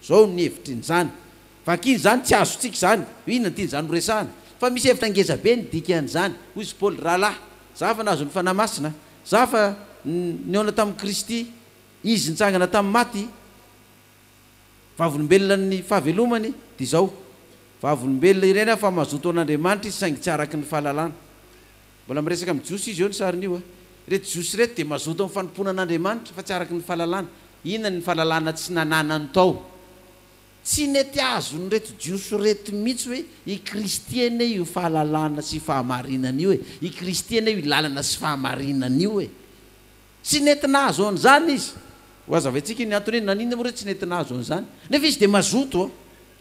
Zao ny hevitry ny zany. Vakiny izany tsy azontsika izany. Hoe inona ny tian'izany ho resahana. Fa misy hevitra ngeza be ny dikan'izany. Hoy izy Paoly, Rahalahy, za fa nahazo ny Fanahy Masina, za fa nihaona tamin'i Kristy, Izy nitsangana tamin'ny maty, vavolombelona ny fahavelomany, dia izao, vavolombelona ireny aho fa mazotoa an'Andriamanitra izy saingy tsy araka ny fahalalana. Mbola miresaka amin'ny Jiosy izy eo ny sarin'io a! Ireto Jiosy ireto dia mazoto amin'ny fanompoana an'Andriamanitra fa tsy araka ny fahalalana. Inona ny fahalalana tsy nananany tao? Tsy nety azon'ireto Jiosy ireto mihitsy hoe i Kristy anie io fahalalana sy fahamarinana io e! I Kristy anie io lalana sy fahamarinana io e! Tsy nety nahazo an'izany izy. Ho hazavaintsika ny antony hoe naninona moa re tsy nety nahazo an'izany. Nefa izy dia mazoto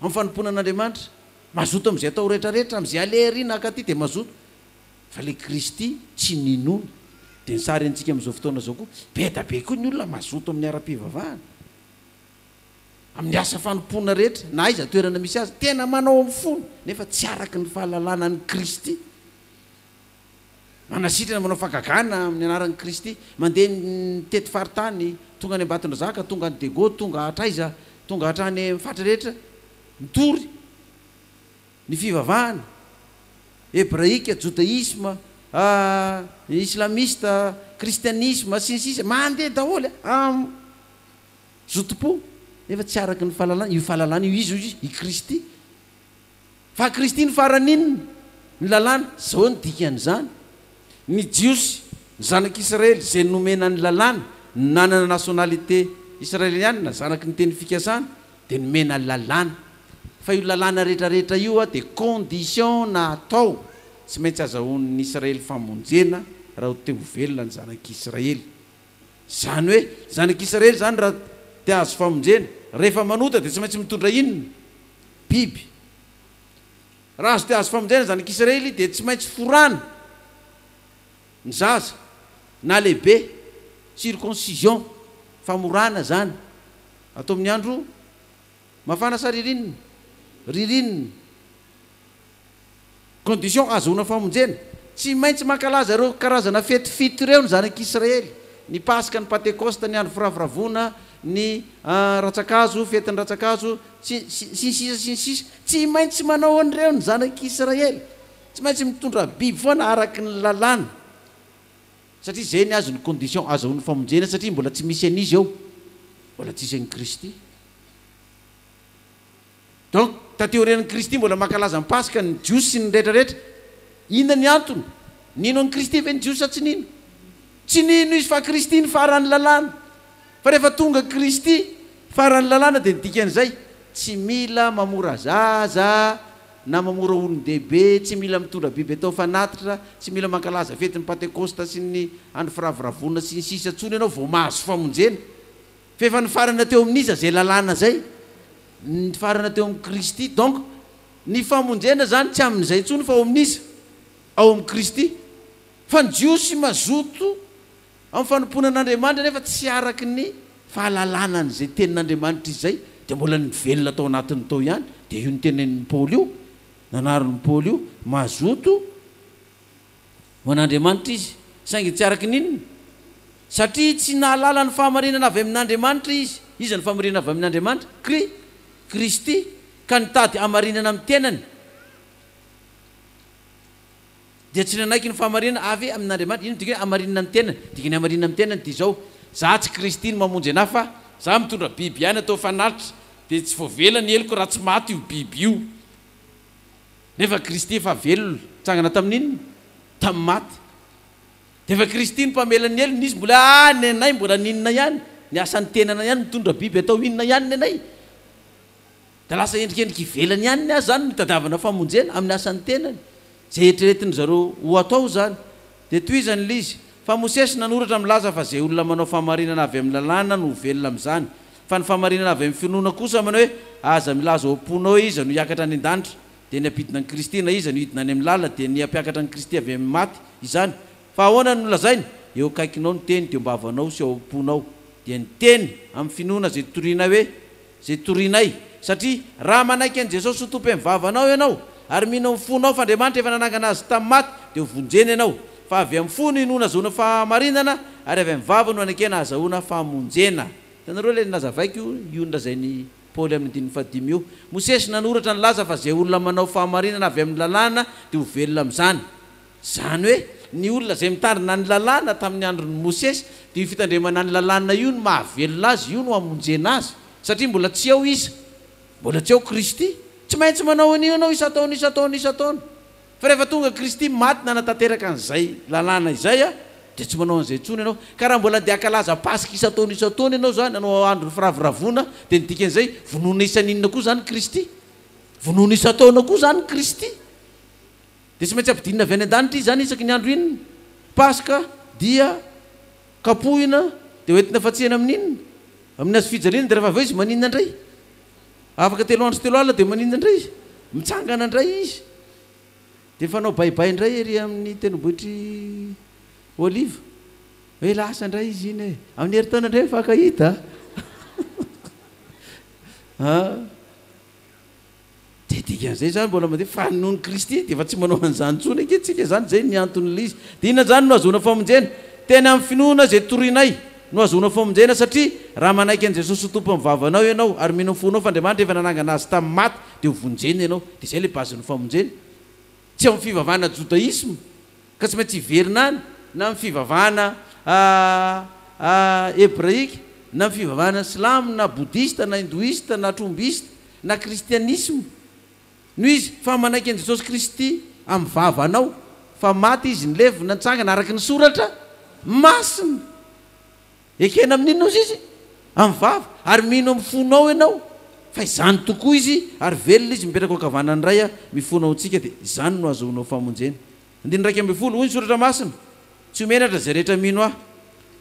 amin'ny fanompoana an'Andriamanitra. Mazoto amin'izay atao rehetra rehetra, amin'izay aleha ery na akaty dia mazoto. Fa le Kristy tsy ninoana. Dia ny sary antsika amin'izao fotoana izao koa, be da be koa ny olona mazoto amin'ny ara-pivavahana, amin'ny asa fanompoana rehetra, na aiza toerana misy azy, tena manao amin'ny fony, nefa tsy araka ny fahalalana an'i Kristy. Manasitrana, manao fagagana amin'ny anaran'i Kristy, mandeha mitety faritany, tonga any Ambatondrazaka, tonga any Dego, tonga hatraiza, tonga hatrany amin'ny faritra rehetra, mitory. Ny fivavahana, hebraika, jodaisma, ahh, islamista, kristianisma, sy ny sisa Mandeha daholo am zotom-po nefa tsy araka ny fahalalana, io fahalalana io iza hoy i Kristy? Fa Kristy no farany inona? Ny lalàna, zao ny dikan'izany, ny jiosy, ny zanak'israely izay nomena ny lalàna, nanana nationalité israeliana, zanaky ny teny fikasana, dia nomena lalàna fa io lalàna rehetrarehetra io dia condition na atao tsy maintsy azahoan'ny Israely famonjena raha ho te ho velona ny zanak'Israely. Izany hoe zanak'Israely izany raha te hahazo famonjena rehefa manota dia tsy maintsy mitondra inona? Biby. Raha azo te hahazo famonjena ny zanak'Israely dia tsy maintsy forana. Ny zaza, na lehibe, circoncision, famorana izany, atao amin'ny andro mafana sa ririnina? ririnina. Condition ahazoana famonjena, tsy maintsy mankalaza ireo karazana fety fito ireo ny zanak'Israely, ny Paska, ny Pantekosta, ny Andro Firavoravoana, ny Ratsan-kazo, fetin'ny Ratsan-kazo, sy, sy ny sisa sy ny sisa. Tsy maintsy manao an'ireo ny zanak'Israely. Tsy maintsy mitondra biby foana araky ny lalàna satria zay ny azy ny condition azahoany famonjena satria mbola tsy misy an'izy eo mbola tsisy an'i Kristy donc taty aorian'i Kristy mbola mankalaza ny paska ny jiosy sy ny rehetra rehetra inona ny antony nino an'i Kristy ve ny jiosy sa tsy nino tsy nino izy fa Kristy ny faran'ny lalàna fa rehefa tonga Kristy faran'ny lalàna dia ny dikan'izay tsy mila mamora zaza na mamora olon-dehibe tsy mila mitondra biby atao fanatitra, tsy mila mankalaza fetin'ny Pantekôsta sy ny andro firavoravoana sy ny sisa intsony ianao vao mahazo famonjena. F'efa nifarana teo amin'iza izay lalàna izay? Nifarana teo amin'i Kristy. Donc ny famonjena izany tsy amin'izay intsony fa ao amin'iza? Ao amin'i Kristy. Fa ny Jiosy mazoto Amin'ny fanompoana an'Andriamanitra nefa tsy araka ny fahalalana an'izay tenin'Andriamanitra izay dia mbola nivelona tao anatiny tao ihany, dia io notenenin'i Paoly io, nanariny Paoly io, mazoto ho an'Andriamanitra izy, saingy tsy araka ny inona? Satria tsy nahalala ny fahamarinana avy amin'Andriamanitra izy, iza no fahamarinana avy amin'Andriamanitra? Kri, Kristy, ka nitady hamarinana amin'ny tenany. Dia tsy nanaiky ny fahamarinana avy amin' Andriamanitra. Inona no dikany hoe hamarinina ny tenany? Ny dikany hamarinina ny tenany dia izao, Izaho tsy Kristy no mamonjy anà, fa Izaho mitondra biby ihany atao fanatitra, dia tsy voavela ny heloko raha tsy maty io biby io. Nefa Kristy efa velona. Nitsangana tamin' inona? Tamin'ny maty. Dia efa Kristy no mpamela ny helony. Izy mbola ah, nenay mbola ny inona ihany? Ny asan'ny tenana ihany mitondra biby atao inona ihany nenay? Dia lasa endrikendrika ivelany ihany ny azy izany no itadiavana famonjena amin'ny asan'ny tenany. Izay eritreretin'ny zareo ho atao izany. Dia tohizany ilay izy, Fa Mosesy nanoratra milaza fa izay olona manao fahamarinana avy amin'ny lalàna no ho velona amin'izany. Fa ny fahamarinana avy amin'ny finoana kosa manao hoe, Aza milaza ao am-ponao hoe iza no hiakatra any an-danitra, dia ny hampidina an'i Kristy, na iza no hidina any amin'ny lalina, dia ny hampiakatra an'i Kristy avy amin'ny maty, izany. Fa ahoana no nolazainy? Eo akaikinao ny teny, dia eo am-bavanao sy ao am-ponao. Dia ny teny, amin'ny finoana izay torinay hoe. izay torianay. Satria raha manaiky an'i Jesosy ho Tompo eny vavanao ianao, ary mino amin'ny fonao fa Andriamanitra efa nanangana Azy tamin'ny maty, dia hovonjena ianao. Fa avy amin'ny fo no inoana azahoana fahamarinana, ary avy amin'ny vava no anekena azahoana famonjena. Hitanareo ilay nilazavaiko io, io nolazain'i Paoly amin'ny andininy fahadimy io. Mosesy nanoratra nilaza fa izay olona manao fahamarinana avy amin'ny lalàna dia ho velona amin'izany. Izany hoe, ny olona izay mitandrina ny Lalàna tamin'ny andron'i Mosesy, dia io fitandremana ny Lalàna io no mahavelona azy, io no hamonjena azy. Satria mbola tsy ao iza? Mbola tsy ao Kristy. Tsy maintsy manao an'io ianao isan-taona, isan-taona, isan-taona. Fa rehefa tonga Kristy, maty nanatanteraka an'izay Lalàna izay, dia tsy manao an'izay intsony ianao. Ka raha mbola andeha hankalaza Paska isan-taona, isan-taona ianao izany, hanao andron'ny firavoravoana, dia ny dikan'izay, vonoina isan'inona koa izany Kristy? Vonoina isan-taona koa izany Kristy? Dia tsy maintsy ampidinina avy any an-danitra izy izany isaky ny andro inona? Paska, dia kapohina, dia hoentina fatsihana amin'ny inona? Amin'ny hazo fijaliana, dia rehefa avy eo izy maninona indray? Afaka telo andro sy telo alina dia maninona indray? Mitsangana indray izy, dia mifanao baibay indray ery amin'ny tendrombohitr'i Oliva. Hoe lasa indray izy iny e! Amin'ny herintaona indray mifankahita a! Dia dikan'izay izany mbola mandeha fa noho ny Kristy dia efa tsy manao an'izany intsony ankehitritsika, izany izay ny anton'lzy. Dia inona izany no ahazoana famonjena? Tena amin'ny finoana izay torianay no ahazoana famonjena satria raha manaiky an'i Jesosy ho Tompon'ny vavanao ianao ary mino amin'ny fonao fa Andriamanitra efa nanangana Azy tamin'ny maty dia ho vonjena ianao. Dia izay ilay bazin'ny famonjena. Tsy ao amin'ny fivavahana jodaisma ka tsy maintsy hiverina any na amin'ny fivavahana hebraika na amin'ny fivavahana silamo na bodista na hindoista na trombista na kristianisma, noho izy fa manaiky an'i Jesosy Kristy amin'ny vavanao, fa maty Izy, nilevina, nitsangana araka ny Soratra Masina. Ekena amin'inona ozy Izy? Amin'ny vava. Ary mino amin'ny fonao ianao fa izany tokoa Izy, ary velona Izy, mipetraka ao an-kavanan'ny Ray, mifona ao amintsika, dia izany no ahazoanao famonjena. Andininy iraika ambin'ny folo, hoy ny Soratra Masina, Tsy ho menatra izay rehetra mino Ahy,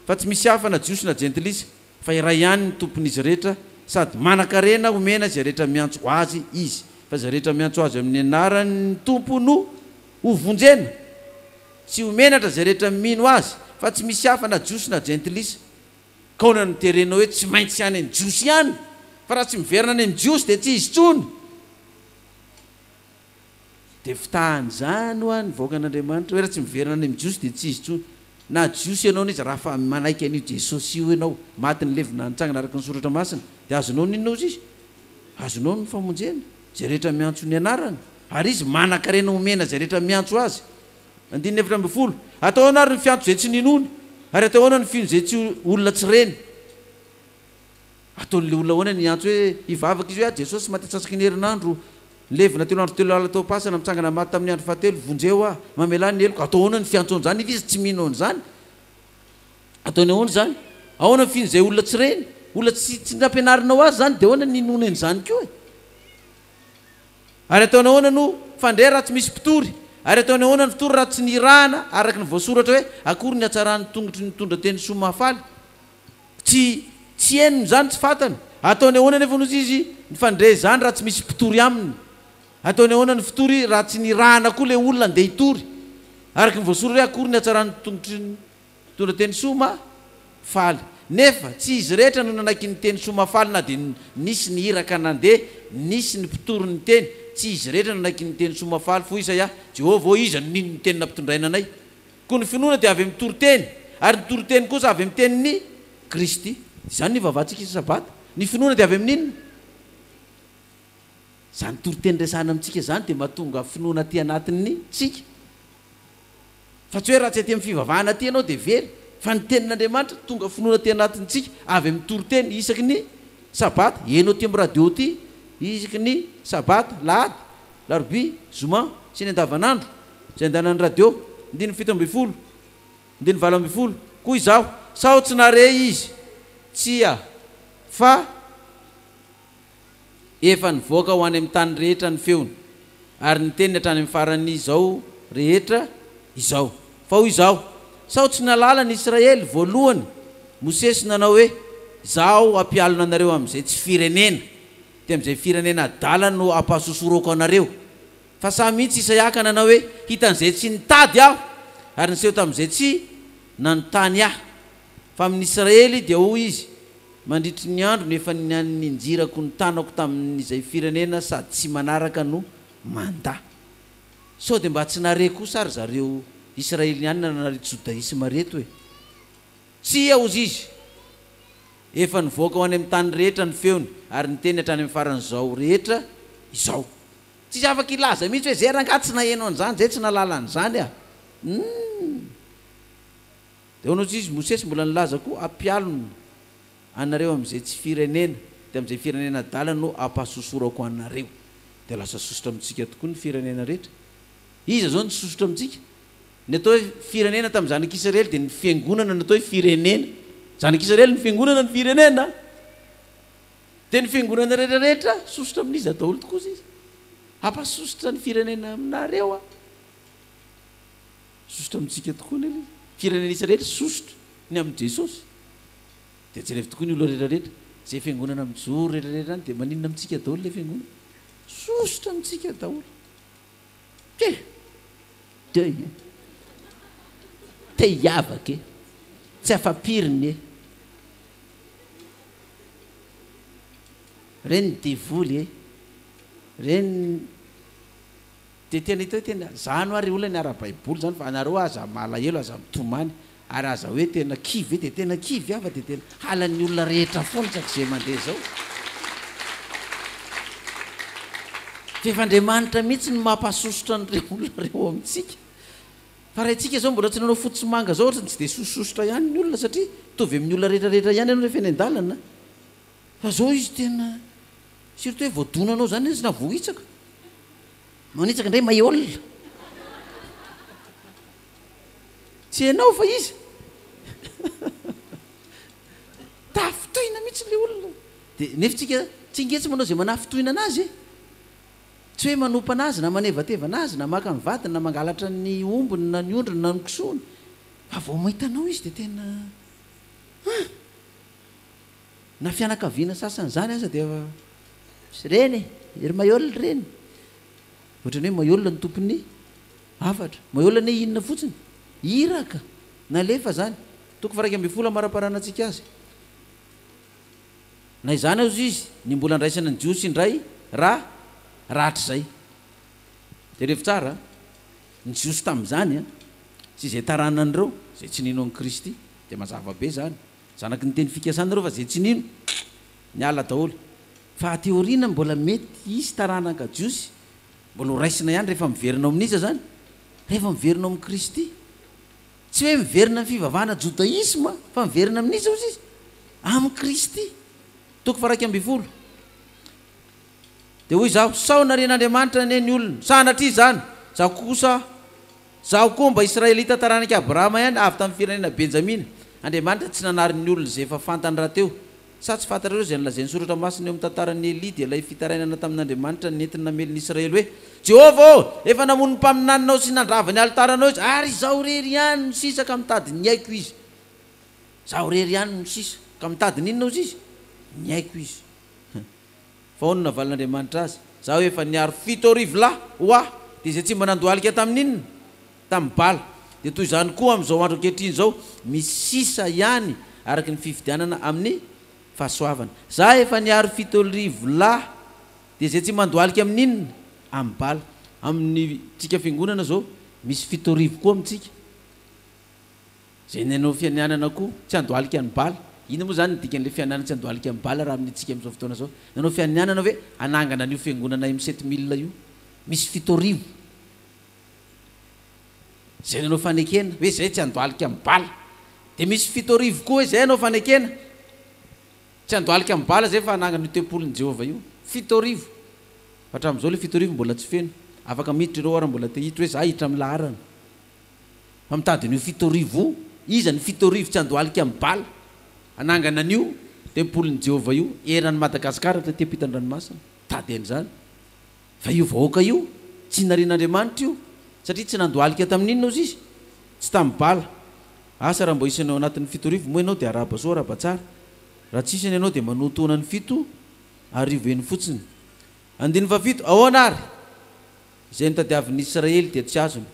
fa tsy misy hafa na Jiosy na Jentilisa. fa iray ihany ny tompon'izy rehetra sady manan-karena omena izay rehetra miantso Azy Izy, fa izay rehetra miantso Azy amin'ny anaran'ny Tompo no ho vonjena, sy ho menatra izay rehetra mino Azy, fa tsy misy hafa na Jiosy na Jentilisa, ka ahoana no terenao hoe tsy maintsy any amin'ny Jiosy ihany? fa raha tsy miverina any amin'ny Jiosy dia tsy izy intsony. Dia fitahan'izany hoa ny vahoakan'Andriamanitra hoe raha tsy miverina any amin'ny Jiosy dia tsy izy intsony. Na Jiosy ianao na iza raha fa manaiky an'io Jesosy io ianao, maty nilevina nitsangana araka ny soratra masina, dia azonao ny inona hozy izy? Azonao ny famonjena, izay rehetra miantso ny anarany. Ary izy manankarena homena izay rehetra miantso azy. Andininy efatra ambin'ny folo. Hatao ahoana ary ny fiantso izay tsy ninoany? Ary hatao ahoana ny fino izay tsy olona tsy reny? Ataon'ilay olona ahoana ny hiantso hoe hivavaka izy hoe, Ah Jesosy, maty antsasak'iny herinandro, nilevina telo andro telo alina tao am-pasana, mitsangana maty tamin'ny andro fahatelo, vonjeo aho, mamelà ny heloko. Atao ahoana ny fiantsoana an'izany nefa izy tsy mino an'izany? Ataony ahoana izany? Ahoana ny fian'izay olona tsy reny? Olona tsy, tsy nampianarinao azy izany, dia ahoana ny hinoany an'izany koa e? Ary ataony ahoana no, fandre raha tsy misy mpitory? Ary ataony ahoana ny mpitory raha tsy nirahana araka ny voasoratra hoe, Akory ny hatsaran'ny tongotry ny mitondra teny soa mahafaly? Tsy tsy henony izany, tsy fantany. Ataony ahoana anefa ozy izy mifandre izany raha tsy misy mpitory aminy? Ataony ahoana ny fitory raha tsy nirahana koa ilay olona handeha hitory? Araka ny voasoratra hoe akory ny hatsaran'ny tongotry ny mpitondra teny soa ma faly. Nefa tsy izy rehetra no nanaiky ny teny soa ma faly na dia nisy ny iraka nandeha nisy ny mpitory niteny. Tsy izy rehetra nanaiky ny teny soa ma faly. Foisa Yah. Jehovah ô, iza no nino ny teny nampitondraina anay? Koa ny finoana dia avy amin'ny toriteny, ary ny toriteny kosa avy amin'ny tenin'i Kristy. Izany no ivavahantsika isa-sabata. Ny finoana dia avy amin'ny inona? Izany toriteny resahina amintsika izany dia mahatonga finoana aty anatintsika. Fa tsy hoe raha tsy aty amin'ny fivavahana aty ianao dia very. Fa ny tenin'Andriamanitra tonga finoana aty anatintsika avy amin'ny toriteny isaky ny sabata. Heno aty amin'ny radio aty isaky ny sabata, lahady, larobia, zoma sy ny andavanandro. Izay andanan'ny radio, andininy fito ambin'ny folo, andininy valo ambin'ny folo, koa izaho, sao tsy nahare izy? Tsia, fa efa nivoaka ho any amin'ny tany rehetra ny feony, ary niteny hatrany amin'ny faran'izao rehetra izao. Fa hoy izaho, Sao tsy nahalala ny Israely, voalohany, Mosesy nanao hoe, Izaho hampialona anareo amin'izay tsy firenena, dia amin'izay firenena adala no hampasosoroko anareo. Fa sahy mihitsy Isaiaka nanao hoe, Hitan'izay tsy nitady aho, ary niseho tamin'izay tsy nanontany ahy. Fa amin'ny Israely dia hoy izy, Mandritry ny androny efa ninjirako ny tanako tamin'izay firenena sady tsy manaraka no mandà. Sao dia mba tsy nahare kosa ry zareo Israelianina nanareto Jodaisma ireto e? Tsia, hozy izy, efa nivoaka ho any amin'ny tany rehetra ny feony, ary niteny hatrany amin'ny faran'izao rehetra izao. Tsisy afaka hilaza mihitsy hoe zay rangahy tsy naheno an'izany, zay tsy nahalala an'izany ah! Humm! Dia hono ozy izy Mosesy mbola nilaza koa hampialona anareo amin'izay tsy firenena, dia amin'izay firenena adala no hampahasosorako anareo. Dia lasa sosotra amintsika tokoa ny firenena rehetra. Iza izao no tsy sosotra amintsika? Ny atao hoe firenena tamin'ny zanak'Israely dia ny fiangonana no atao hoe firenena. Zanak'Israely ny fiangonana ny firenena. Dia ny fiangonana rehetra rehetra sosotra amin'iza daholo tokoa izy izy. Hampasosotra ny firenena aminareo aho. Sosotra amintsika tokoa ny Eglizy. Firenena isa rehetra sosotra ny amin'i Jesosy. Dia jerevo tokoa ny olona rehetra rehetra. Izay fiangonana mijoro rehetra rehetra any dia maninona amintsika daholo ilay fiangonana. Sosotra amintsika daholo. Te. Deuil e. Te hiavaka e. Tsy afa-piriny e. Reny devoly e. Reny. Dia tena hita hoe tena, izany ho'a ry olona ny ara-baiboly izany fa anareo aza malahelo, aza mitomany. Ary aza hoe tena kivy ve dia tena kivy aho fa dia tena halan'ny olona rehetra foana isaky izay mandeha izao. Fa efa Andriamanitra mihitsy no mampahasosotra an'ireo olona ireo ao amintsika. Fa raha isika izao mbola tsy nanao fotsy sy manga izao ohatrany tsy dia sosososotra ihany ny olona satria mitovy amin'ny olona rehetra rehetra ihany ianao rehefa eny an-dalana. Fa izao izy tena surtout hoe voadonanao izany izy na voahitsaka. Manitsaka indray maiola. Tsy ianao fa iza? Tafintohina mihitsy ilay olona. Dia nefa isika tsy ngetsy manao izay manafintohina anazy e! Tsy hoe manompa anazy na manevateva anazy na maka ny vadiny na mangalatra ny ombiny na ny ondriny na ny kisoany fa vao mahita anao izy dia tena an! Na fianakaviana sasany izany aza dia efa. Ry reny e! Ry maioly reny! Ohatrany hoe maiola ny tompon'ny hafatra. Maiola anie inona fotsiny? Iraka! Nalefa zany. Toko faharaika ambin'ny folo amaraparanantsika azy. Na izany aza izy, ny mbola andraisana ny Jiosy indray ra rahatrizay. Jerevo tsara ny Jiosy tamin'izany sy izay taranan'ireo izay tsy nino an'i Kristy. Dia mazava be izany. Zanaky ny teny fikasana ireo fa izay tsy nino Niala daholo. Fa aty aoriana mbola mety hisy taranaka jiosy mbola ho raisina ihany rehefa miverina ao amin'iza izany? Rehefa miverina ao amin'i Kristy. Tsy hoe miverina amin'ny fivavahana jodaisma fa miverina amin'iza hozy izy? Amin'i Kristy. Toko faharaika ambin'ny folo. Dia hoy izaho, sao narian'Andriamanitra anie ny olona? Sanatria izany! Izaho kosa, izaho koa mba Israelita taranak'i Abrahama ihany, avy tamin'ny firenena Benjamina. Andriamanitra tsy nanary ny olona izay efa fantany rahateo, Sa tsy fantatrareo izay nolazain'ny Soratra Masina eo amin'ny tantaran'i Elia, dia ilay fitarainana tamin'Andriamanitra nentiny namely ny Israely hoe, Jehovah ô, efa namono ny mpaminaninao sy nandrava ny alitaranao izy, ary izaho irery ihany no sisa ka mitady ny aiko izy. Izaho irery ihany no sisa, ka mitady ny inona hozy izy? Ny aiko izy. Vao no navalin'Andriamanitra azy, Izaho efa niaro fito arivo lahy ho Ahy, dia izay tsy mba nandohalika tamin'inona? Tamin'i Bala. Dia toy izany koa amin'izao andro ankehitriny izao, misy sisa ihany araka ny fifidianana amin'ny fahasoavana. Izaho efa niaro fito arivo lahy, dia izay tsy mandohalika amin'inona? Amin'i Bala. Amintsika Fiangonana izao, misy fito arivo koa amintsika. Izay nanao fianianana koa tsy handohalika an'i Bala. Inona moa izany ny dikan'ilay fianianana tsy handohalika an'i Bala raha amin'itsika amin'izao fotoana izao? Nanao fianianana ve hanangana an'io fiangonana M sept mille io? Misy fito arivo izay nanao fanekena, hoe izay tsy handohalika an'i Bala. Dia misy fito arivo koa hoe izay hanao fanekena tsy handohalika an'i Bala izay fa hanangana io tempolin'i Jehovah io. Fito arivo! Fa hatramin'izao ilay fito arivo mbola tsy feno. Afaka miditra ireo ary mbola te hiditra hoe izaho hiditra amin'ny laharana. Fa mitady an'io fito arivo io. Iza ny fito arivo tsy handohalika amin'i Bala, hanangana an'io tempolin'i Jehovah io eran'i Madagasikara taty am-pitan-dranomasina? Mitady an'izany. Fa io vahoaka io, tsy narian'Andriamanitra io, satria tsy nandohalika tamin'inona ozy izy? Tsy tamin'i Bala. Asa raha mbola isan'ny ao anatin'ny fito arivo moa ianao dia arahaba soa arahaba tsara. Raha tsy isany ianao dia manoatoana ny fito arivo eny fotsiny. Andininy fahafito, Ahoana ary? Izay notadiavin'ny Israely dia tsy azony,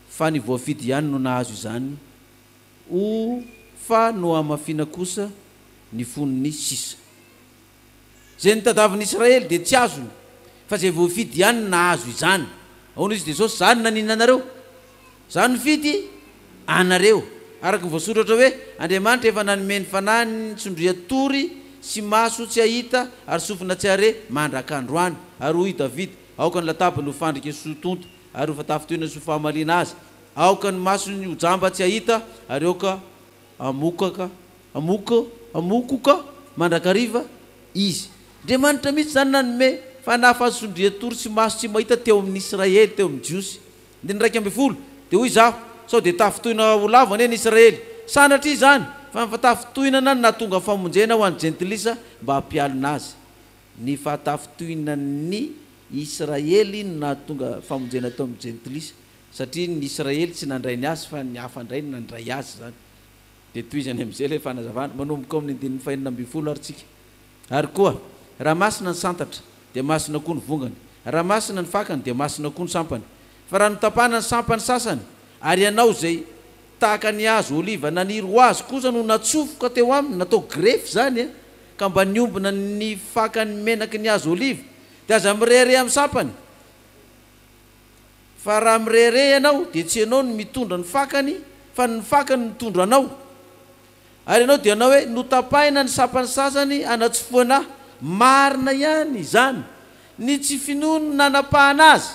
fa ny voafidy ihany no nahazo izany, o Fa nohamafina kosa ny fon'ny sisa. Izay notadavin'ny Israely dia tsy azony, fa izay voafidy ihany no nahazo izany. Ahoana izy Jesosy, Za no nanina anareo, Za no nifidy anareo. Araka ny voasoratra hoe, Andriamanitra efa nanome ny fanahiny ny tsondrian-tory sy maso tsy hahita ary sofina tsy hahare mandrak'androany. Ary hoy i Davida, Aoka ny latabany ho fandrika sy ho tonta, ary ho fatafintohina sy ho fahamaliana azy. Aoka ny masony ho jamba tsy hahita, ary aoka hamokaka, hamoka, hamokoka mandrakariva izy. Andriamanitra mihitsy izany nanome fanahy fahasondrian-tory sy maso tsy mahita teo amin'ny Israely, teo amin'ny Jiosy. Andininy iraika ambin'ny folo, Dia hoy izaho, Sao dia tafintohina ho lavo anie ny Israely? Sanatria izany, fa ny fatafintohinana no nahatonga ny famonjena ho an'ny Jentilisa mba hampialona azy. Ny fahatafintohinan'ny Israely no nahatonga famonjena teo amin'ny Jentilisa, satria ny Israely tsy nandray ny azy fa ny hafa indray no nandray azy izany. Dia tohizany amin'izay ilay fanazavana, manomboka ao amin'ny andininy fahenina ambin'ny folo ary tsika. Ary koa, raha masina ny santatra, dia masina koa ny vongany, raha masina ny fakany, dia masina koa ny sampany. Fa raha notapahana ny sampany sasany, ary ianao izay. Tahaka ny hazo oliva naniry ho azy kosa no natsofoka teo aminy, natao grefy izany e, ka mba niombona ny fakan'ny menaky ny hazo oliva, dia aza mirehareha amin'ny sampany, fa raha mirehareha ianao dia tsy ianao no mitondra ny fakany, fa ny fakany no mitondra anao. Ary ianao dia hanao hoe, Notapahina ny sampan'ny sasany hanatsofohana ahy. Marina ihany izany. Ny tsy finoany no nanapahana azy,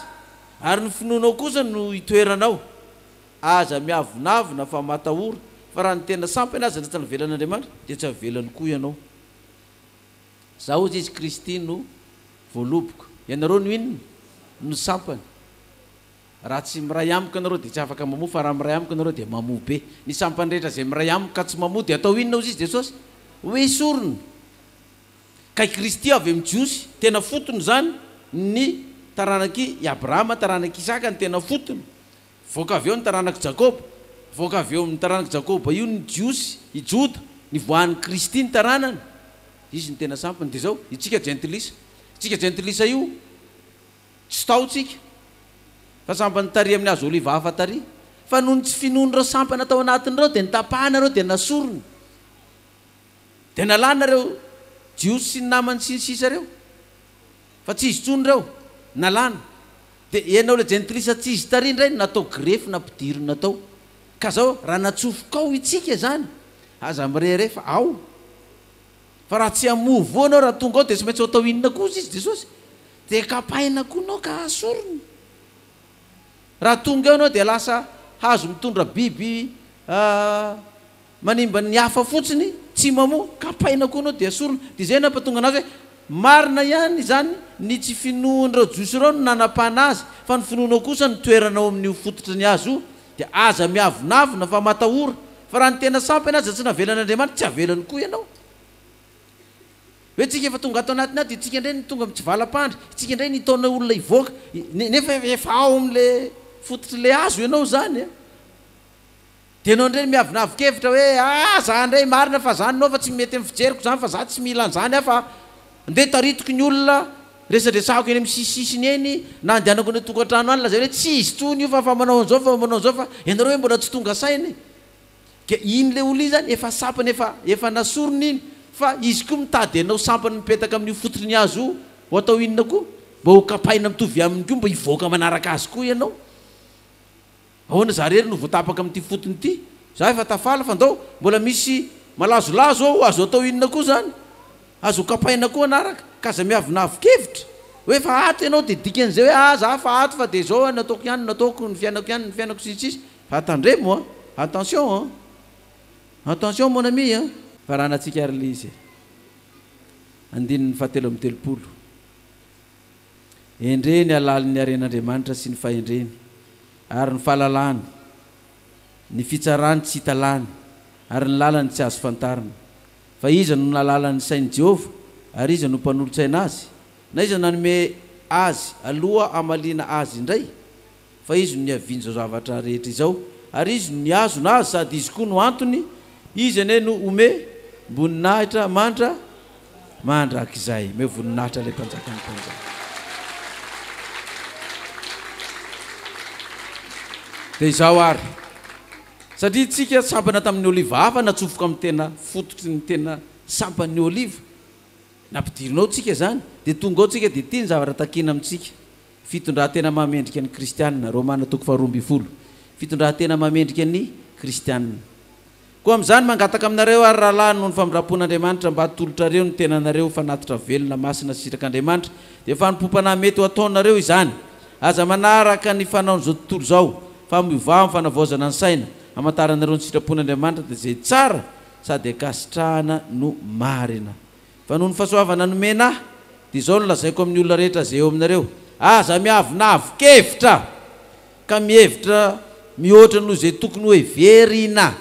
ary ny finoanao kosa no itoeranao. Aza miavonavona fa matahora, fa raha ny tena sampy anie aza tsy navelan'Andriamanitra dia tsy havelany koa ianao. Za ozy izy Kristy no voaloboka. Ianareo no inona? No sampany. Raha tsy miray amiko ianareo dia tsy afaka mamoa fa raha miray amiko ianareo dia mamoa be. Ny sampany rehetra izay miray amiko ka tsy mamoa dia atao inona ozy izy Jesosy? Ho esorina. Ka i Kristy avy amin'ny Jiosy, tena fotony izany, ny taranak'i Abrahama, taranak'i Isaka no tena fotony. Nivoaka avy eo ny taranak'i Jakoba, nivoaka avy eo amin'ny taranak'i Jakoba io ny Jiosy, i Joda, nivoahan'i Kristy ny taranany, dia izy no tena sampiny. Dia izao, itsika jentilisa, itsika jentilisa io, tsy tao tsika, fa sampany tary amin'ny hazo oliva hafa tary, fa noho ny tsy finoan'ireo sampana tao anatin'ireo, dia notapahana ireo, dia nasorina, dia nalana ireo Jiosy sy ny namany sy ny sisa ireo. Fa tsy izy tsony ireo, nalana. Dia ianao ilay jentilisa tsy izy tary indray no natao grefy nampidirina tao. Ka izao raha natsofokao itsika izany, aza mirehareha fa ao. Fa raha tsy hamoa voa ianao raha tonga ao dia tsy maintsy hatao inona koa hozy izy, Jesosy? Dia kapaina koa ianao ka hasorina. Raha tonga eo ianao dia lasa hazo mitondra biby Manimba ny hafa fotsiny, tsy mamoa, kapaina koa anao dia sorona. Dia izay nampatonga anazy hoe, marina ihany izany, ny tsy finoan'irao Jiosy irao no nanapahana azy, fa ny finoanao kosa no toerana ao amin'io fototry ny azy io, dia aza miavonavona fa matahora, fa raha ny tena sampy ianao aza tsy navelan'Andriamanitra, tsy avelany koa ianao. Hoe tsika efa tonga ato anatiny ato, itsika indray no tonga mitsivalam-pandry, itsika indray no hitaona olona hivoaka, nefa efa ao amin'ilay fototr'ilay hazo ianao izany an! Dia nony re miavonavon-kevitra hoe ah za ndray marina fa zany no fa tsy mety amin'ny fijeriko zany fa za tsy mila an'zany ah fa ndeha taritiko ny olona resadresahako eny amin'ny sisisisiny eny na andehanako any an-tokantrano any lazaina hoe tsy izy tsony io fa fa manao an'zao fa manao an'zao fa ianareo hoe mbola tsy tonga saina e! Ka iny le olona iny zany efa sampany efa efa nasorony iny fa izy koa mitady anao sampany mipetaka amin'io fototry ny hazo io ho atao inona koa? Mba ho kapaina mitovy aminy koa mba hivoaka manaraka azy koa ianao. Ahoana za rery no voatapaka amin'ity fotony ity? Za efa tafaly fa ndao mbola misy malazolazo ao azo atao inona koa zany? Azo ho kapaina koa anaraka ka aza miavonavon-kevitra oe efa ato ianao de dikan'izay oe ah za efa ato fa de zao ny ataoko ihany no ataoko, ny fiainako ihany ny fiainako sy ny sisa fa tandremo an! Attention an! Attention mon ami an! Faranantsika ary ilay izy e! Andininy fahatelo amby telopolo. Endrey ny halalin'ny haren'Andriamanitra sy ny fahendreny, ary ny fahalalany, ny fitsarany tsy hita lany, ary ny lalany tsy azo fantarina. Fa iza no nahalala ny sain'i Jehovah, ary iza no mpanolo-tsaina azy? Na iza nanome azy aloha hamaliana azy indray? fa Izy no niaviany izao zavatra rehetra izao, ary Izy no nihazona azy, sady Izy koa no antony, Izy anie no homem-boninahitra mandra mandrakizay. Omeo voninahitra ilay Mpanjakan'ny mpanjaka. Dia izao àry, satria isika sampana tamin'ny oliva hafa natsofoka amin'ny tena fototry ny tena sampan'ny oliva, nampidirina ao isika izany, dia tonga ao isika, dia ity ny zavatra takina amintsika, Fitondran-tena mahamendrika ny Kristianina, Romana toko faharoa ambin'ny folo, Fitondran-tena mahamendrika ny Kristianina. Koa amin'izany, mangataka aminareo àry, rahalahy, noho ny famindram-pon'Andriamanitra, mba hatolotrareo ny tenanareo ho fanatitra velona, masina sy sitrak'Andriamanitra, dia fanompoam-panahy mety ho ataonareo izany. Aza manaraka ny fanaon'izao tontolo izao, fa miovaho amin'ny fanavaozana ny saina, hamantaranareo ny sitrapon'Andriamanitra, dia izay tsara sady ankasitrahana no marina. Fa noho ny fahasoavana nomena ahy, dia izao no lazaiko amin'ny olona rehetra izay eo aminareo, Aza miavona avo-kevitra, ka mihevitra mihoatra noho izay tokony hoheverina,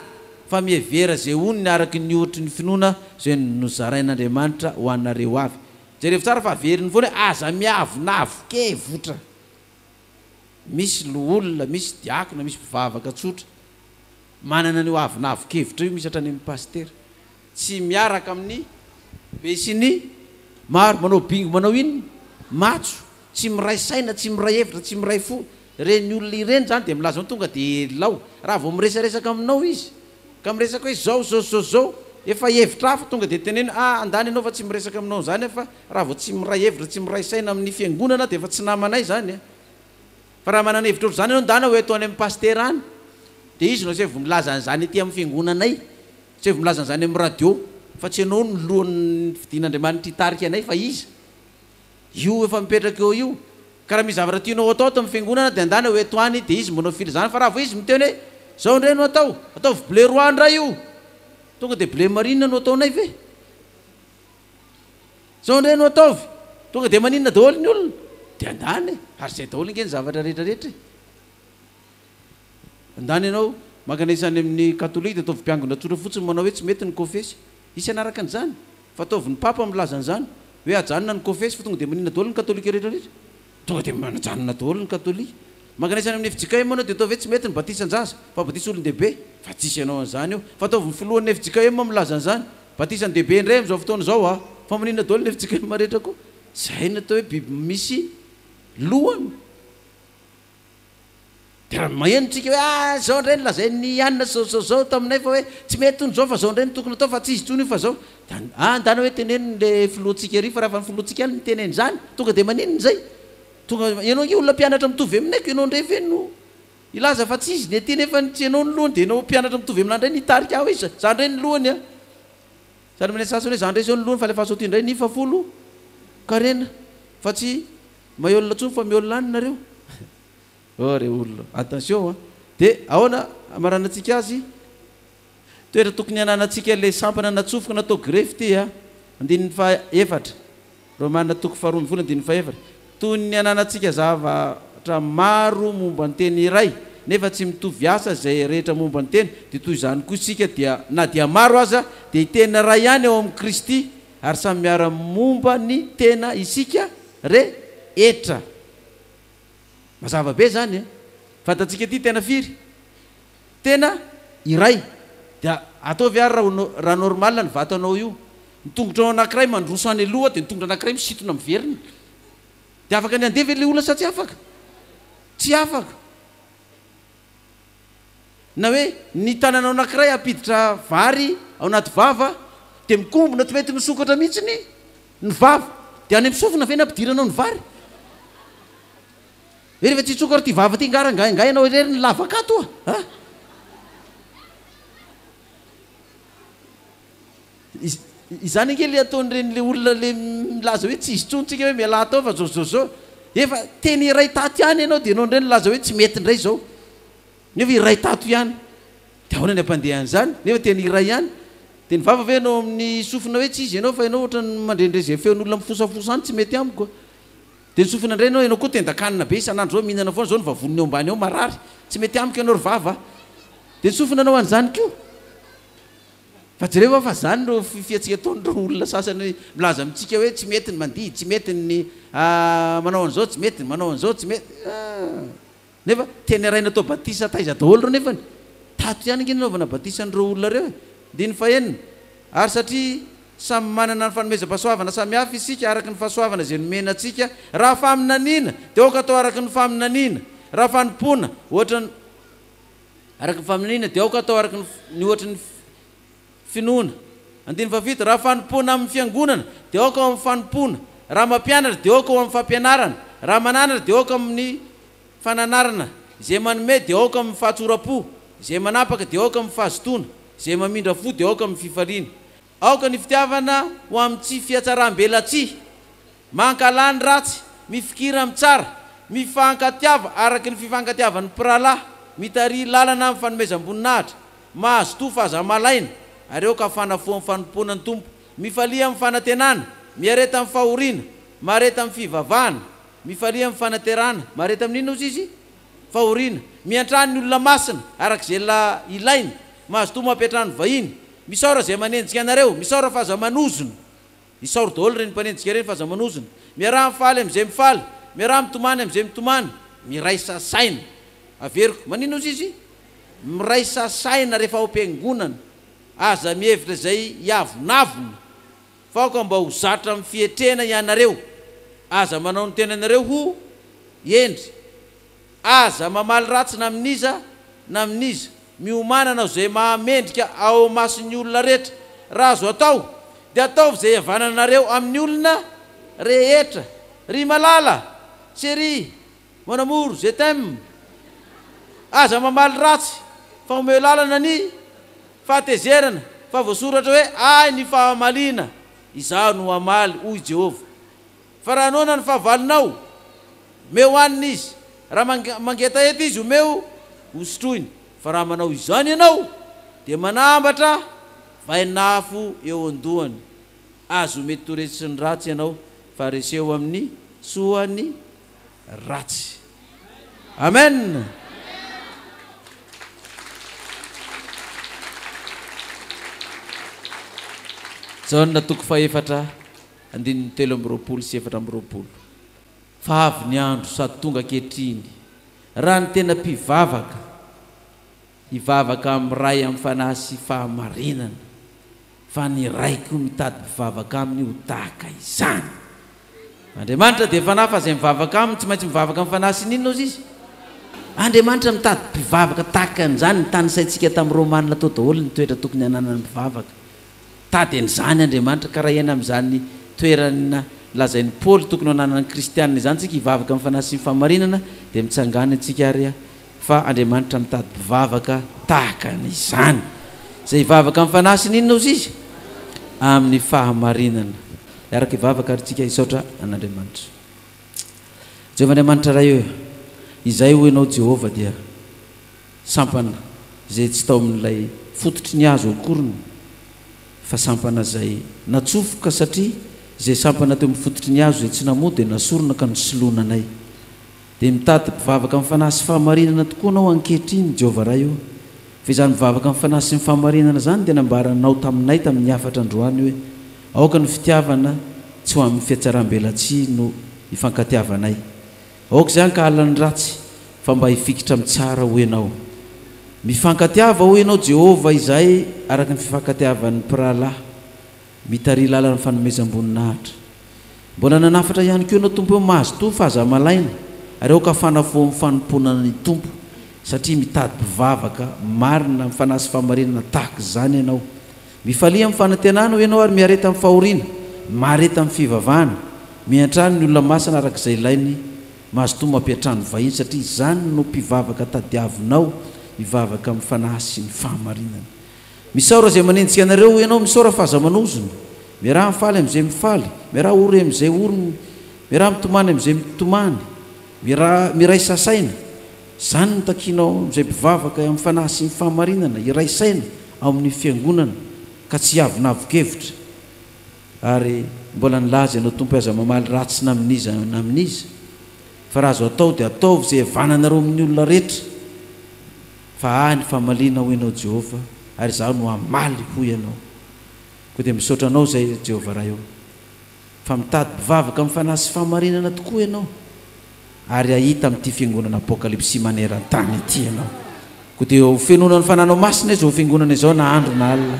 fa mihevera izay onony araka ny ohatry ny finoana izay nozarain'Andriamanitra ho anareo avy. Jerevo tsara fa averiny foana hoe, Aza miavona avo-kevitra. Misy loholona, misy diakona, misy mpivavaka tsotra manana an'io avona avo-kevitra io, misy hatrany amin'ny pasitera. Tsy miaraka amin'ny be sy ny maro manao bingo manao inn matso tsy miray saina tsy miray hevitra tsy miray fo ireny olona ireny zany dia milaza tonga dia helao raha vao miresaresaka aminao izy ka miresaka hoe zao zao zao zao efa hevitra hafa tonga dia teneno ah andany ianao fa tsy miresaka aminao zany aho fa raha vao tsy miray hevitra tsy miray saina amin'ny fiangonana dia efa tsy namanay zany eh fa raha manana hevitra ohatr'izany ianao ndana ho eto any amin'ny pasitera any dia izy no zay vao milaza an'izany ety amin'ny fiangonanay Tsy avy milaza an'izany amin'ny radio fa tsy ianao no lohan'ny fidin'Andriamanitra hitarika anay fa Izy. Io efa mipetraka eo io. Ka raha misy zavatra tianao hatao ato amin'ny Fiangonana dia andana ho eto any dia Izy manao filazana fa raha vao Izy miteny hoe izao indray no atao, ataovy bleu roi indray io, tonga dia bleu marine no ataonay ve? Izao indray no ataovy, tonga dia maninona daholo ny olona? Dia andana e! Ary izay daholo ange ny zavatra rehetra rehetra e! Ndany ianao mankana isa any amin'ny katolika dia ataovy mpiangona tsotra fotsiny manao hoe tsy mety ny kofesy. Hisy hanaraka an'izany. Fa ataovy ny papa milaza an'izany. Hoe ajanona ny kofesy fa tonga dia maninona daholo ny katolika rehetrarehetra. Tonga dia manajanona daholo ny katolika. Mankana isa any amin'ny fjkm ianao dia ataovy hoe tsy mety ny batisan-jaza fa batisa olon-dehibe. Fa tsisy hanao an'izany eo. Fa ataovy ny filohan'ny fjkm milaza an'izany. Batisa ny dehibe indray amin'izao fotoana izao aa. Fa maninona daholo ny fjkm rehetra koa. Izay no atao hoe biby misy lohany. Dia raha maheno tsika hoe ah zao ndray ny lazain'i Anna zao zao zao taminay fa hoe tsy mety hono zao fa zao ndray no tokony atao fa tsy izy tsony io fa zao dia an ah ndana hoe teneno le filohantsika ery fa raha fa ny filohantsika any miteny an'izany tonga dia maninona izay tonga ianao ange olona mpianatra mitovy aminay ko ianao ndray ve no hilaza fa tsy izy ny aty nefa tsy ianao ny lohany dia ianao mpianatra mitovy aminah ndray no hitarika hoe za za ndray ny lohany an sady manentsatsy hoe za ndray zao ny lohany fa alefaso aty ndray ny fafolo karena fa tsy Mahiolona tsony fa miolona any nareo oh re olona attention a! de aona amaranantsika azy? toetra tokony ananantsika le sampana natsofoka natao grefy ty a! andininy faha efatra romana toko faha roa ambin'ny folo andininy faha efatra toy ny ananantsika zavatra maro momba ny teny iray nefa tsy mitovy asa zay rehetra momba ny teny de toy zany koa isika dia na dia maro aza de teny ray ihany ao amin kristy Ary samy miara momba ny tena isika re hetra. Mazava be zany e. Fantatsika ity tena firy? Tena iray. Dia ataovy ary raha normal ny vato anao io. Ny tongotra ao anakiray mandroso any aloha dia ny tongotra anakiray misitona miverina. Dia afaka ny handeha ve ilay olona sa tsy afaka? Tsy afaka. na hoe ny tananao anankiray hampiditra vary ao anaty vava dia mikombona tsy mety misokatra mihitsy ny ny vava dia any amin'ny sofina ve ny hampidiranao ny vary hoe rehefa tsy hitsokatra ity vava ity nga rangahy angaha ianao irery ny lavaka ato oa a Izany ange le ataon'ireny le olona le milaza hoe tsy izy tsony tsika hoe mialà tao fa zao zao zao efa teny iray tato ihany ianao de ianao indray nilaza hoe tsy mety indray zao nefa iray tato ihany de ahoana ny ampandehan'izany nefa teny iray ihany de ny vava ve ianao amin'ny sofina hoe tsy izy ianao fa ianao ohatran'ny mandre indray zay feon'olona mifosafosa any tsy mety amiko a de ny sofina indray ianao ianao koa tendan-kanina be isan'andro zao mihinana foana zao ny vavoniny eo ambany ao marary tsy mety amiko ianao ry vava a de ny sofina anao an'izany koa Fa jereo va fa zany no fiatsika ataon'ireo olona sasany milaza amintsika hoe tsy mety ny mandihy, tsy mety ny manao an'izao, tsy mety ny manao an'izao, tsy mety ah! Nefa te neraina atao batisa taiza daholo ireo nefany tato ihany ange nanaovana batisa an'ireo olona ireo e! Andininy fahenina, Ary satria samy manana ny fanomezam-pahasoavana samy hafa isika araka ny fahasoavana izay nomena antsika, raha faminaniana dia aoka atao araka ny faminaniana, raha fanompoana ohatra ny. Araka ny familiana, dia aoka hatao araka ny ohatry ny finoana. Andininy fahafito, Raha fanompoana amin'ny fiangonana, dia aoka ho amin'ny fanompoana, raha mampianatra, dia aoka ho amin'ny fampianarana, raha mananatra, dia aoka amin'ny fananarana, izay manome, dia aoka amin'ny fahatsoram-po, izay manapaka, dia aoka amin'ny fahazotoana, izay mamindra fo, dia aoka amin'ny fifaliana. Aoka ny fitiavana ho amin'ny tsy fihatsaram-belatsihy. Mankahala ny ratsy, mifikira amin'ny tsara, mifankatiava araka ny fifankatiavan'ny mpirahalahy, mitarihy lalana amin'ny fanomezam-boninahitra, mahazotoa fa aza malaina, ary aoka fanafoan'ny fanompoana ny Tompo. Mifalia amin'ny fanantenana, miareta amin'ny fahoriana, mareta amin'ny fivavahana. Mifalia amin'ny fanaterana, mareta amin'inona hozy izy? Fahoriana. Miantrano ny olona masina araka izay ilainy. Mazotoa mampiantrano ny vahiny. Misaora izay manenjika anareo. Misaora fa aza manozona. Isaoro daholo ireny mpanenjika ireny fa aza manozona. Miaraha mifaly amin'izay mifaly. Miaraha mitomany amin'izay mitomany. Miraisa saina. Averiko. Maninona ozy izy? Miraisa saina rehefa ao am-piangonana. Aza mihevitra izay hiavonavona. Faoka mba ho zatra amin'ny fietrena ianareo. Aza manao ny tenanareo ho hendry. Aza mamaly ratsy na amin'iza na amin'iza. Miomàna hanao izay mahamendrika ao imason'ny olona rehetra. Raha azo atao, dia ataovy izay iavananareo amin'ny olona rehetra. Ry malala! Cherie! Mon amour je t'aime Aza mamaly ratsy fa omeo lalana ny fahatezerana fa voasoratra hoe ahy ny fahamaliana izaho no hamaly hoy Jehovah fa raha noana ny fahavalonao omeo hanina izy raha mangetaheta izy omeo hosotroiny fa raha manao izany ianao dia manambatra vainafo eo an-dohany azy ho mety toresin'ny ratsy ianao fa reseo amin'ny soa ny ratsy. Amen. Jaona toko fahefatra andininy telo amby roapolo sy efatra amby roapolo. Fa avy ny andro sady tonga ankehitriny raha ny tena mpivavaka Hivavaka amin'ny Ray amin'ny fanahy sy fahamarinana, fa ny Ray koa mitady mpivavaka Aminy ho tahaka izany. Andriamanitra dia Fanahy, fa izay mivavaka Aminy tsy maintsy mivavaka amin'ny fanahy sy ny inona ozy Izy? Andriamanitra mitady mpivavaka tahaka an'izany, nitanisaintsika tamin'ny Romanina tao daholo ny toetra tokony hananan'ny mpivavaka. Mitady an'izany Andriamanitra ka raha hiaina amin'izany toerana lazain'i Paoly tokony ho ananan'ny kristiana izany isika hivavaka amin'ny fanahy sy ny fahamarinana dia mitsangàna isika ary fa Andriamanitra mitady mpivavaka tahaka an'izany izay hivavaka amin'ny fanahy sy ny inona hozy izy? amin'ny fahamarinana. Hiaraka hivavaka ary isika hisaotra an'Andriamanitra. Jehovah Andriamanitra Ray ô, izay hoy ianao Jehovah dia. Sampana izay tsy tao amin'ilay fototry ny hazo akoriny fa sampana izay natsofoka satria izay sampana teo amin'ny fototry ny hazo izay tsy namoa dia nasorina ka nosoloana anay. Dia mitady mpivavaka amin'ny fanahy sy fahamarinana tokoa anao ankehitriny Jehovah Ray ô. Fa izany mivavaka amin'ny fanahy sy ny fahamarinana izany dia nambaranao taminay tamin'ny hafatra androany hoe aoka ny fitiavana tsy ho amin'ny fihatsarambelatsihy no ifankatiavanay. Aoka izay hankahala ny ratsy, fa mba hifikitra amin'ny tsara hoy ianao. Mifankatiava hoy ianao Jehovah izahay araka ny fifankatiavan'ny mpirahalahy mitariha lalan'ny fanomezam-boninahitra. Mbola nanafatra ihany koa ianao Tompo hoe mazotoa fa aza malaina ary aoka hafanafoho amin'ny fanompoana ny Tompo satria mitady mpivavaka marina amin'ny fanahy sy fahamarinana tahaka izany ianao. Mifalia amin'ny fanantenana hoy ianao ary miareta amin'ny fahoriana, mahareta amin'ny fivavahana, miantrano ny olona masina araka izay ilainy, mazotoa mampiantrano vahiny satria izany no mpivavaka tadiavinao hivavaka amin'ny fanahy sy ny fahamarinana. Misaora izay manenjika anareo hoy ianao, misaora fa aza manozona, miaraha mifaly amin'izay mifaly, miaraha ory amin'izay ory, miaraha mitomany amin'izay mitomany, miaraha miraisa saina, Izany no takiana ao amin'izay mpivavaka amin'ny fanahy sy ny fahamarinana, hiray saina ao amin'ny Fiangonana ka tsy hiavonavon-kevitra. Ary mbola nilaza ianao Tompo hoe aza mamaly ratsy na amin'iza na amin'iza, fa raha azo atao dia ataovy izay hihavananareo amin'ny olona rehetra, fa ahy ny famaliana hoy ianao Jehovah, ary izaho no hamaly hoy ianao. Koa dia misaotra anao izay Jehovah Ray ô. Fa mitady mpivavaka amin'ny fanahy sy fahamarinana tokoa ianao, ary hahita amin'ity fiangonana Apokalypsy maneran-tany ity ianao. Koa dia ho fenoina ny Fananao Masina izao fiangonana izao na andro na alina.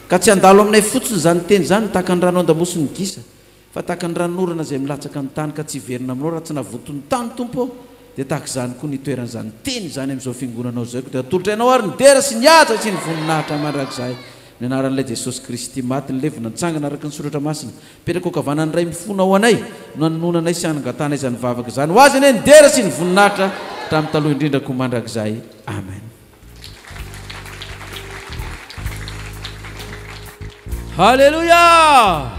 Ka tsy handalo aminay fotsiny izany teny izany tahaka ny rano andamosin'ny gisa, fa tahaka ny ranon'orana izay milatsaka amin'ny tany ka tsy hiverina aminao raha tsy navoton'ny tany, Tompo ô. Dia tahaka izany koa ny hitoeran'izany teny izany amin'izao fiangonanao izao. Koa dia hatolotra ianao ary ny dera sy ny haja sy ny voninahitra mandrakizay. Ny anaran'Ilay Jesosy Kristy maty, nilevina, nitsangana araka ny Soratra Masina, mipetraka ho kavanan'ny Ray mifona ao anay, no anononana anay sy anangatanay izany vavaka izany. Ho Azy anie ny dera sy ny voninahitra hatramin'ny taloha indrindra koa mandrakizay. Amen. Haleloia!